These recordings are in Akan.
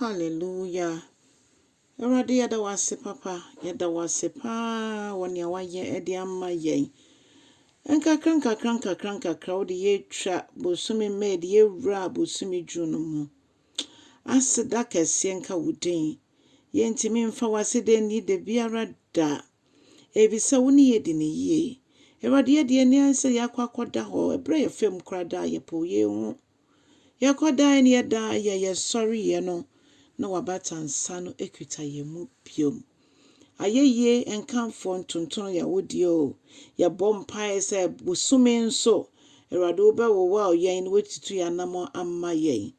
Hallelujah! Awurade yɛda wo ase papa, yɛda wo ase paa wɔ nea woayɛ de ama yɛn. Nkakra nkakra nkakra nkakra wode yɛatwa bosome May de yɛwura bosome June no mu. Aseda kɛseɛ nka wo din. Yɛntumi mfa w'aseda nni da biara da. Ebisa wo ne yɛdi ne yie. Awurade yɛde yɛn ani ayɛ sɛ yɛakɔ akɔda hɔ ɛberɛ yɛ fam koraa da a yɛpoo yɛn ho. Yɛkɔ dan no yɛda a yɛ yɛ sɔre yɛ no na wabata nsa no ɛkita yɛ mu biom. Ayɛyie nkamfoɔ ntontono yɛ awodeɛ o, yɛ bɔ mpaeɛ sɛ bosome nso Awurade wo bɛ wo wow yɛn na watutu yɛ anamɔ ama yɛn.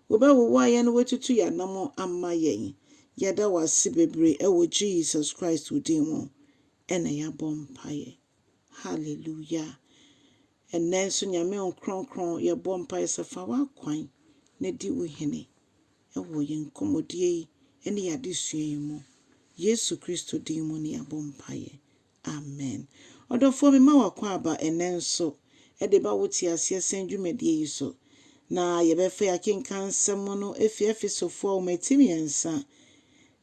Wo bɛ wo wow yɛn na watutu yɛ anamɔ ama yɛn. Yɛda w'ase bebree ɛwɔ Jesus Christ wo din mu ɛna yɛabɔ mpaeɛ. Hallelujah. Ɛnnɛ nso Nyame o Kronkron yɛbɔ mpaeɛ sɛ fa w'akwan na di wo hene wɔ yɛn nkɔmmɔdie yi ne yɛn adesua yi mu. Yesu Kristo din mu ne yɛabɔ mpaeɛ. Amen. Ɔdɔfoɔ mema w'akwaaba ɛnnɛ nso de ba wo te aseɛ sɛn dwumadie yi so na yɛbɛfa yɛn akenkan nsɛm no afiri Efesofoɔ nwoma ti mmiɛnsa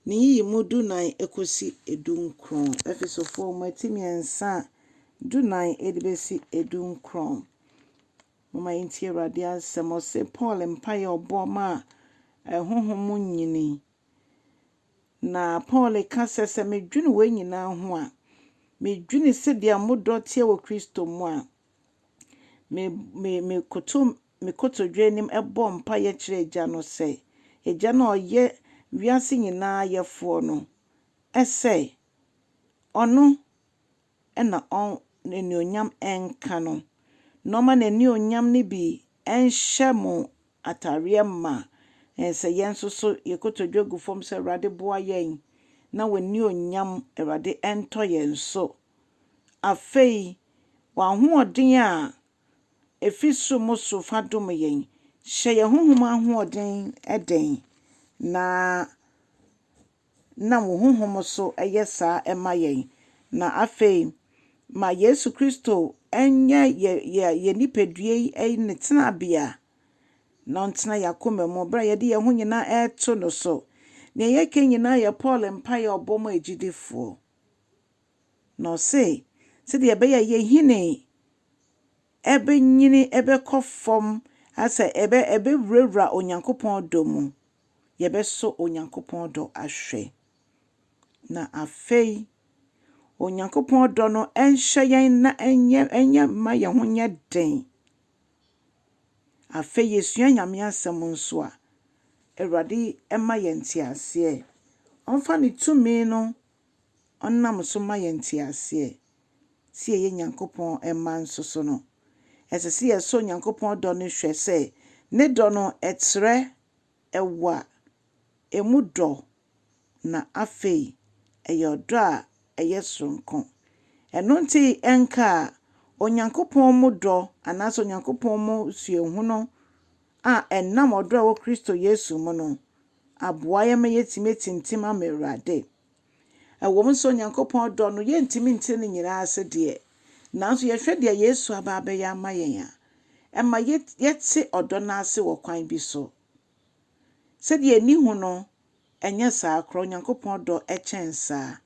Ne nyiyimu dunan kosi dunkron. Efesofoɔ mmati mmiɛnsa a dunan de bɛsi dunkron. Momma yɛntie Awurade asɛm. Ɔse Paul mpaeɛ a ɔbɔɔ maa honhom mu nyini. Na Paul ka sɛ, sɛ medwene wei nyinaa ho a, medwene sɛdeɛ mo dɔ teɛ wɔ Kristo mu a, me, me, mekoto me kotodwe anim bɔɔ mpaeɛ kyerɛɛ Agya no sɛ, Agya no a ɔyɛ wiase nyinaa Yɛfoɔ no, sɛ Ɔno na N'anuonyam nka no, na ɔma N'anuonyam no bi nhyɛ mo atadeɛ ma, sɛ yɛn nso so yɛn kotodwe gu fam sɛ, Awurade boa yɛn, na W'anuonyam, Awurade, ntɔ yɛn so. Afei, W'ahoɔden a Efi soro mu so fa dom yɛn. Hyɛ yɛn honhom ahoɔden den, na nam wo honhom so yɛ saa ma yɛn. Na afei, ma Yesu Kristo nyɛ yɛn nipadua yi ne tenabea, na ɔntena yɛn akoma mu bere a yɛde yɛn ho nyinaa reto no so. Nea yɛka nyinaa yɛ Paul mpae a ɔbɔ maa agyidifoɔ. Na ɔse, sɛdeɛ ɛbɛyɛ a yɛhini bɛnyini bɛkɔ fam asɛ ɛbɛwurawura Onyankopɔn dɔ mu, yɛbɛsɔ Onyankopɔn dɔ ahwɛ. Na afei, Onyankopɔn dɔ no nhyɛ yɛn na ɛnyɛ ɛnyɛ mma yɛn ho nyɛ den. Afei yɛsua Nyame asɛm nso a, Awurade ma yɛn nteaseɛ. Ɔmfa ne tumi no ɔnam so ma yɛn nteaseɛ sɛ yɛyɛ Nyankopɔn mma nso so no, ɛsɛ sɛ yɛsɔ Onyankopɔn dɔ no hwɛ sɛ ne dɔ no trɛ, ɛwɔ a, ɛmu dɔ, na afei ɛyɛ ɔdɔ a ɛyɛ soronko. Ɛno nti ɛnka a, Onyankopɔn mu dɔ anaasɛ Onyankopɔn mu suahunu a ɛnam ɔdɔ a ɛwɔ Kristo Yesu mu no aboa yɛn ma yɛatumi atintim ama Awurade. Ɛwɔ mu sɛ Onyankopɔn dɔ no, yɛntumi nkyerɛ ne nyinaa ase deɛ, nanso yɛhwɛ deɛ Yesu aba abɛyɛ ama yɛn a, ɛma yɛte ɔdɔ no ase wɔ kwan bi so. Sɛdeɛ ani hu no, ɛnyɛ saa koraa, Onyankopɔn dɔ kyɛn saa.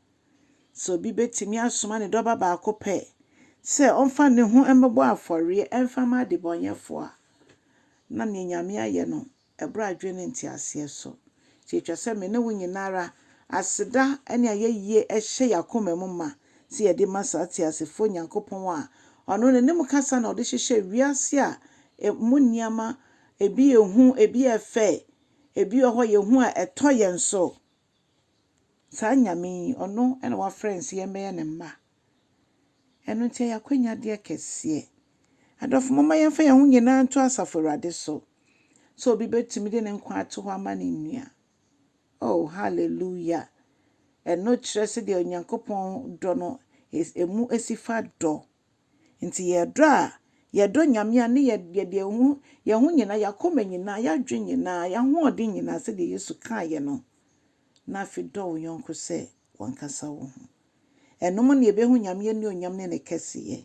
Sɛ obi bɛtumi asoma ne Dɔba baako pɛ sɛ ɔmfa ne ho mmɛbɔ afɔreɛ mfa ma adebɔnyɛfoɔ a, na neɛ Nyame ayɛ no Ɛberɛ a adwene ne nteaseɛ so. Nti ɛtwa sɛ me ne wo nyina ara aseda ne ayɛyie hyɛ yɛn akoma mu ma sɛ yɛde ma saa teasefoɔ Nyankopɔn a Ɔno ne nim kasa na Ɔde hyehyɛɛ wiase a ɛmu nneɛma ebi yɛ hu, ebi yɛ fɛ, ebi wɔ hɔ yɛ hu a ɛtɔ yɛn so Saa Nyame yi, ɔno na wafrɛ yɛn sɛ yɛmbɛyɛ ne mma. Ɛno nti ɛyɛ akwanyadeɛ kɛseɛ. Adɔfo, momma yɛmfa yɛn ho nyinaa nto Asafo Awurade so sɛ obi bɛtumi de ne nkwa ato hɔ ama ne nua. Oh, hallelujah! Ɛno kyerɛ sɛdeɛ Onyankopɔn dɔ no, ɛmu si fa dɔ. Ntsi yɛyɛ dɔ a, yɛdɔ Nyame a, nna yɛde hɛnho nyina, hɛnakoma nyina, hɛadwen nyina, hɛahoɔdzen nyina, sɛdeɛ Yesu kaa yɛ no, na afei dɔ wo yɔnko sɛ wankasa woho. Ɛno mu na yɛbɛhu Nyame anuonyam ne ne kɛseyɛ.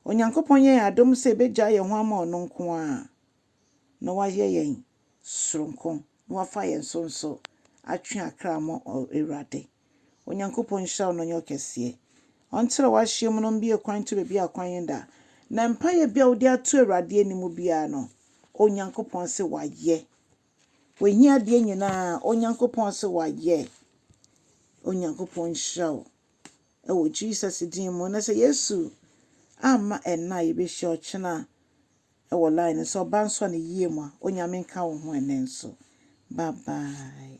Onyankopɔn yɛ yɛn adom sɛ yɛbɛgyaa yɛn ho ama ɔno nko ara. na wayɛ yɛn soronko, na wafa yɛn so nso atwe akra ama Awurade. Onyankopɔn nhyira wo na ɔnyɛ wo kɛseɛ. Ɔnkyerɛ w'ahyeɛm no mbue kwan nto baabi a kwan nda. Na mpaeɛ biara wode ato Awurade anim biara no, Onyankopɔn se wayɛ. W'ahiadeɛ nyinaa, Onyankopɔn se wayɛ. Onyankopɔn nhyira wo. Ɛwɔ Jesus din mu. Na sɛ Yesu amma ɛnna a yɛbɛhyia ɔkyena wɔ line no so ɔba nsɔ ne yie mu a onyame nka wo ho ɛnɛ nso bye bye.